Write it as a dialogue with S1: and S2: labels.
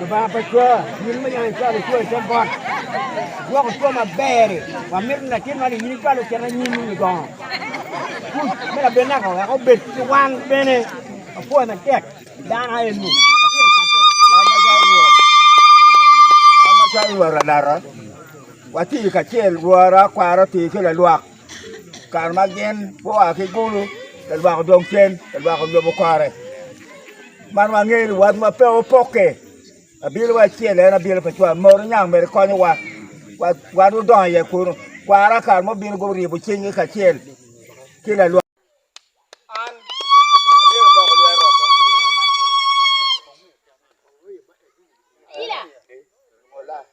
S1: Lubanga pa cwa,
S2: in ma yango icwalo cwa i te got, igwoko cwa maber-ri, wamito latin man in icwal ocit anyimi i gongo kuc me labinaka wek obed ki wan bene. Apwoyo matek dano aye-nu.
S1: Amaca Rwot Alara, watye kacel, Rwora, kwara otir ki lalwak. kare ma gin gua ki kulu ka lwak odong cen ka lwak oyobo kore man wangeyo ni wat pe opokke abino wa acel en abino pa cwal mot oniang mere konyowa wan gudongo iye kunu kwara kare mo bino guryeyo cingngi kacel ki lalwok